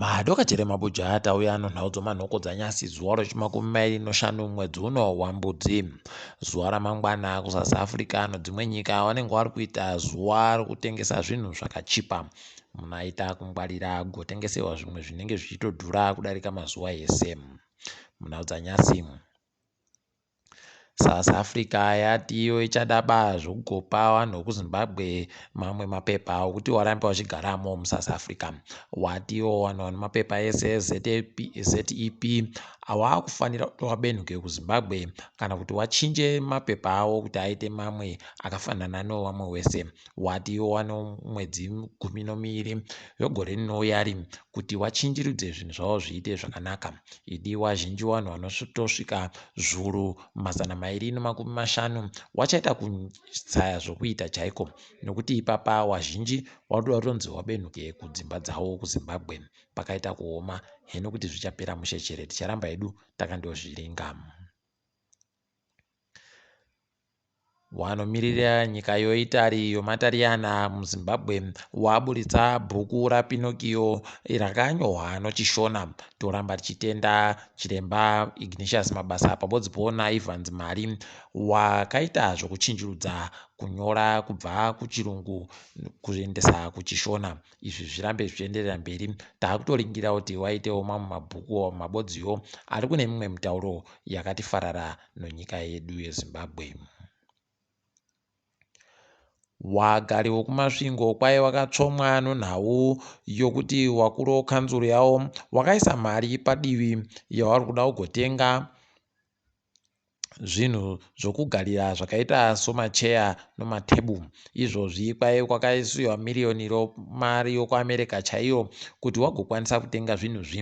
madoka chere mabuja atauya anonhaudzo manhoko dzanyasi zuva rochimakumi mairi noshanu mwedzi uno wambudzi zuva ramangwana kusouth africa ano dzimwe nyika vanenge vari kuita zuva rokutengesa zvinhu zvakachipa munhu aita kungwarira agotengesewa zvimwe zvinenge zvichitodhura kudarika mazuva ese munhaudzanyasi South Africa yati iyo ichada ba zvokugopa vanhu vekuzimbabwe mamwe mapepa okuti warambe vachigaramo musouth africa wati iwo vanhu vane mapepa ese ezep awaakufanira kuti wabenhuke kuzimbabwe kana kuti wachinje mapepa awo kuti aite mamwe akafanana newevamwe wese wati iwo wano mwedzi gumi nomiri vegore rinouya ri kuti wachinjirudze zvinhu zvavo zviite zvakanaka idi wazhinji wanhu vanotosvika zvuru mazana mairi nemakumi mashanu wachaita kutsaya zvokuita chaiko nokuti ipapa wazhinji wauda kutonzi wabenuke kudzimba dzavo kuzimbabwe pakaita kuoma heno kuti zvichapera mushe chere ticharamba hedu takandozviringa Wanomiririra nyika yoItari yomaTariyana muZimbabwe waburitsa bhuku raPinocchio rakanyorwa noChiShona. Toramba tichitenda chiremba Ignatius Mabasa pamodzi po naIvans Mari wakaita zvokuchinjurudza kunyora kubva kuChirungu kuendesa kuChiShona. izvi zvirambe zvichienderera mberi takutoringira kuti waitewo mamwe mabhuku or mabodziwo ari kune mimwe mitauro yakati farara nonyika yedu yezimbabwe wagari wokumasvingo kwaye wakatsvomwa nonhau yokuti wakuru wekanzuru yawo wakaisa mari padivi yavari kuda kugotenga zvinhu zvokugarira zvakaita somacheya nomatable izvozvi kwaive kwakaisiwa miriyoni romari yokuamerica chaiyo kuti wagokwanisa kutenga zvinhu zvi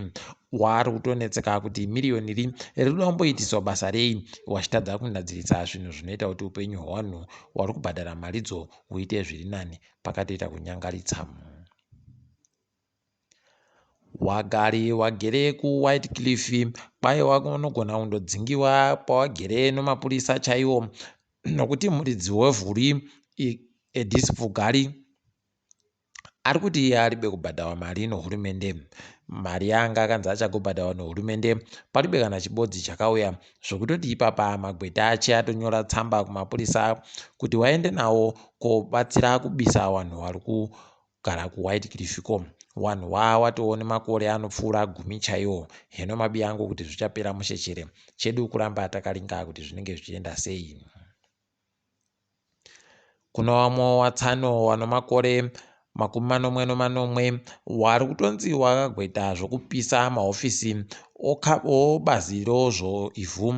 waari kutonetseka kuti miriyoni ri rinoda kumboitiswa basa rei wachitadza kugadzirisa zvinhu zvinoita kuti upenyu hwevanhu wari kubhadhara maridzo huite zviri nani pakatoita kunyangaritsa Wagari wagere ku White Cliff kwaye wanogona kundodzingiwa pawagere nemapurisa chaiwo nokuti muridzi wevhuri Edis Pfugari ari kuti iye aribe kubhadharwa mari nehurumende mari yaanga akanzi achagobhadharwa nehurumende paribe kana chibodzi chakauya zvekutoti ipapa magweta ache atonyora tsamba kumapurisa kuti waende nawo kobatsira kubisa vanhu vari Gara ku white cliff ko wanhu waa watowo nemakore anopfuura gumi chaiwo heno mabi angu kuti zvichapera mushe chere chedu kuramba takalinga kuti zvinenge zvichienda sei kuno wamwe watsano wano makore makumi manomwe nomanomwe wari kutonzi wakagweta zvokupisa mahofisi Okabo bazi rozvo ivhu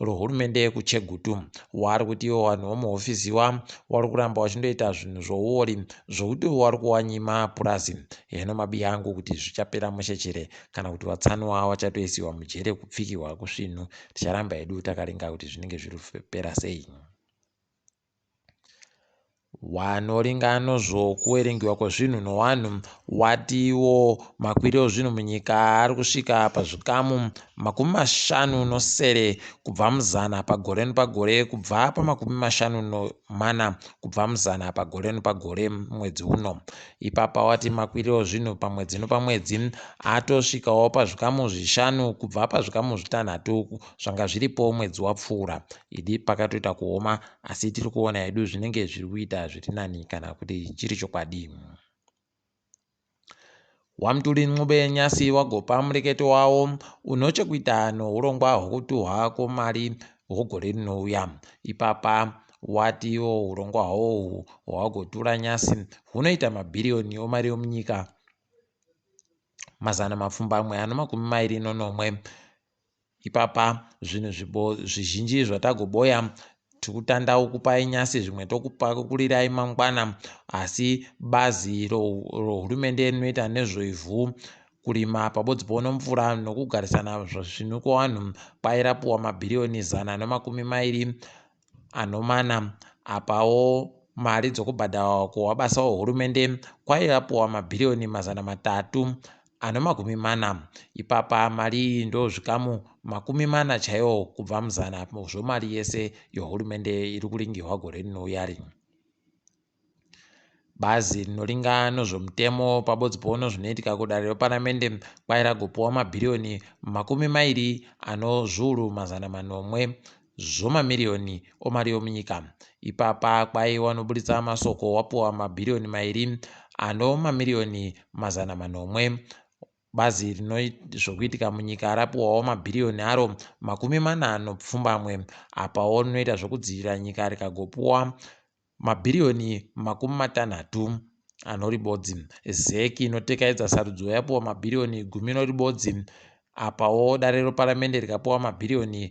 rohurumende yekuChegutu wari kuti iwo wanhu womuhofisi wa wari kuramba wachindoita zvinhu zvouori zvokuti wari kuwanyima purazi heno mabi angu kuti zvichapera mushe chere kana kuti vatsanwa wachatoisiwa mujere kupfikihwa kusvinhu ticharamba hedu takaringa kuti zvinenge zviri kupera sei. Wanoringano zvo kuwerengiwa kwezvinhu nowanhu wati wo makwiri ozvinhu munyika ari kusvika pazvikamu makumi mashanu nosere kubva muzana pagore nopagore kubva pamakumi mashanu nomana kubva muzana pagore nopagore mwedzi uno. Ipapa wati makwiri ozvinhu pamwedzi nopamwedzi atosvikawo pazvikamu zvishanu kubva pazvikamu zvitanhatu zvanga zviripo mwedzi wapfuura. Idi pakatoita kuoma asi tiri kuona hedu zvinenge zviri kuita zviri nani kana kuti chiri chokwadi. Wamtuli Ncube Nyasi wagopa mureketo wawo uno chekuita nourongwa hwokutuhwa kwomari hwogore rinouya. Ipapa watiwo urongwa hwohwu hwawagotura nyasi hunoita mabhiriyoni omari omunyika mazana mapfumbamwe ano makumi mairi nonomwe Ipapa zvinhu zvibo zvizhinji zvatagoboya tikutanda ukupai nyasi zvimwe tokupakulirai mangwana asi bazi rohurumende rinoita nezvoivhu kurima pabodzi pono mvura nokugarisana zvinhu kwewanhu kwairapiwa mabhiriyoni zana nomakumi mairi Anomana apawo mari dzokubhadharwa kuwabasa wehurumende kwaive apuwa mabhiriyoni mazana matatu anomakumi mana. Ipapa mari iyi ndozvikamu makumi mana chaiwo kubva muzana zvomari yese yohurumende iri kuringihwa gore rinouya rinyi. Bazi rinoringa nozvomutemo pabodzipoono zvinoitika kudare reparamende kwai ragopiwa mabhiriyoni makumi mairi anozviuru mazana manomwe zvomamiriyoni omari yomunyika. Ipapa kwai wanoburitsa masoko wapiwa mabhiriyoni mairi ano mamiriyoni mazana manomwe bazi rinozvokuitika munyika rapiwawo mabhiriyoni aro makumi mana anopfumbamwe apawo rinoita zvokudzivirira nyika rikagopiwa Mabhiriyoni makumi matanhatu anori bodzi. Zec inotekaedza sarudzo yapuwa mabhiriyoni gumi inori bodzi apawo dare reparamende rikapuwa mabhiriyoni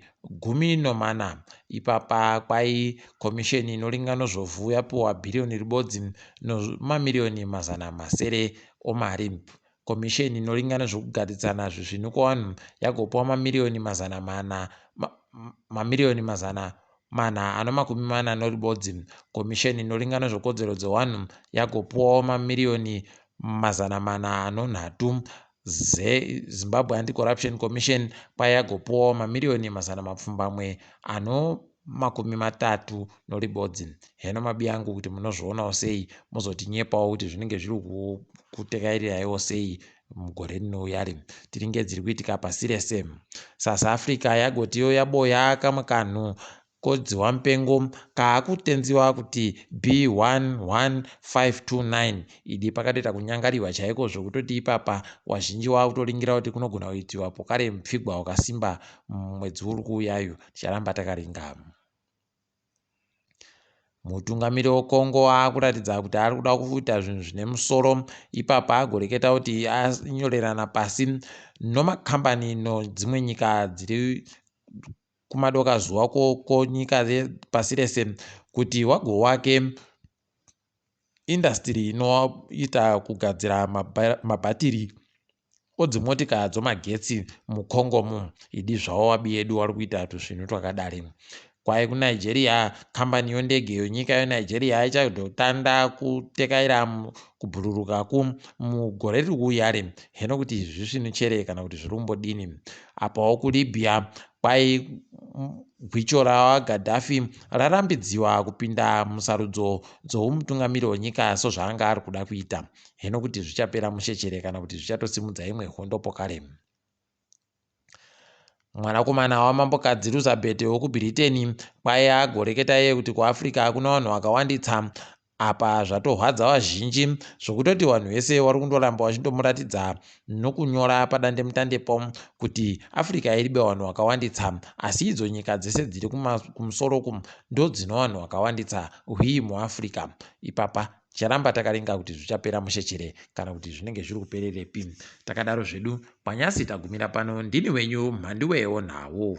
gumi nomana. Ipapa kwai komisheni inoringa nozvovu yapuwa bhiriyoni ribodzi nomamiriyoni mazana masere omari. Komisheni inoringa nezvokugaridzana zvezvinhu kwavanhu yagopiwa mamiriyoni mazana mana mamiriyoni mazana mana ano makumi mana noribodzi komisheni inoringa nezvokodzero dzewanhu yagopiwawo mamiriyoni mazana mana anonhatu zezimbabwe anti-corruption commission kwaye yagopiwawo mamiriyoni mazana mapfumbamwe ano makumi matatu noribodzi heno mabi angu kuti munozvionawo sei mozotinyepawo kuti zvinenge zviri kutekairirayiwo sei mugore rinouya ri tiringe dziri kuitika pasi rese south africa yagotiyo yaboya kamwe kanhu kodziwa mupengo kaakutenziwa kuti b11529 idi pakatoita kunyangariwa chaiko zvokutoti ipapa wazhinji waakutoringira kuti kunogona kuitiwa pokare mupfigwa wakasimba mumwedzi uri kuuyayo ticharamba takaringama mutungamiri wekongo akuratidza kuti ari kuda kuita zvinhu zvine musoro ipapa agoreketa kuti anyorerana pasi nomakambani nodzimwe nyika dziri kumadoka zuva koko nyika pasi rese kuti wago wake indasitiri inoita kugadzira mabhatiri odzimotika dzomagetsi mucongo mu idi zvavo wabiyedu wari kuita tuzvinhu twakadari kwaye kunigeria kambani yondege yonyika yonigeria ichadotanda kutekaira kubhururuka ku mugore riri kuuyari heno kuti izvi zvisvinu chere kana kuti zviri kumbodini apawo kulibya Kwai gwicho raGaddafi rarambidziwa kupinda musarudzo dzoumutungamiri wenyika sozvaanga ari kuda kuita. Heno kuti zvichapera mushe chere kana kuti zvichatosimudza imwe hondo pokare. Mwanakomana wamambokadzi Elizabeth wekuBriteni kwaiya agoreketa iye kuti kuAfrica hakuna vanhu vakawanditsa Apa zvatorwadza vazhinji zvokutoti vanhu vese vari kundoramba vachindomuratidza nokunyora padandemtandepo kuti Africa iri bevanhu vakawanditsa asi idzo nyika dzese dziri kumusoro uku ndodzino vanhu vakawanditsa hwii muAfrica ipapa ticharamba takaringa kuti zvichapera mushe chere kana kuti zvinenge zviri kupererepi takadaro zvedu kwanyasi tagumira pano ndini wenyu mhandiwewo nhau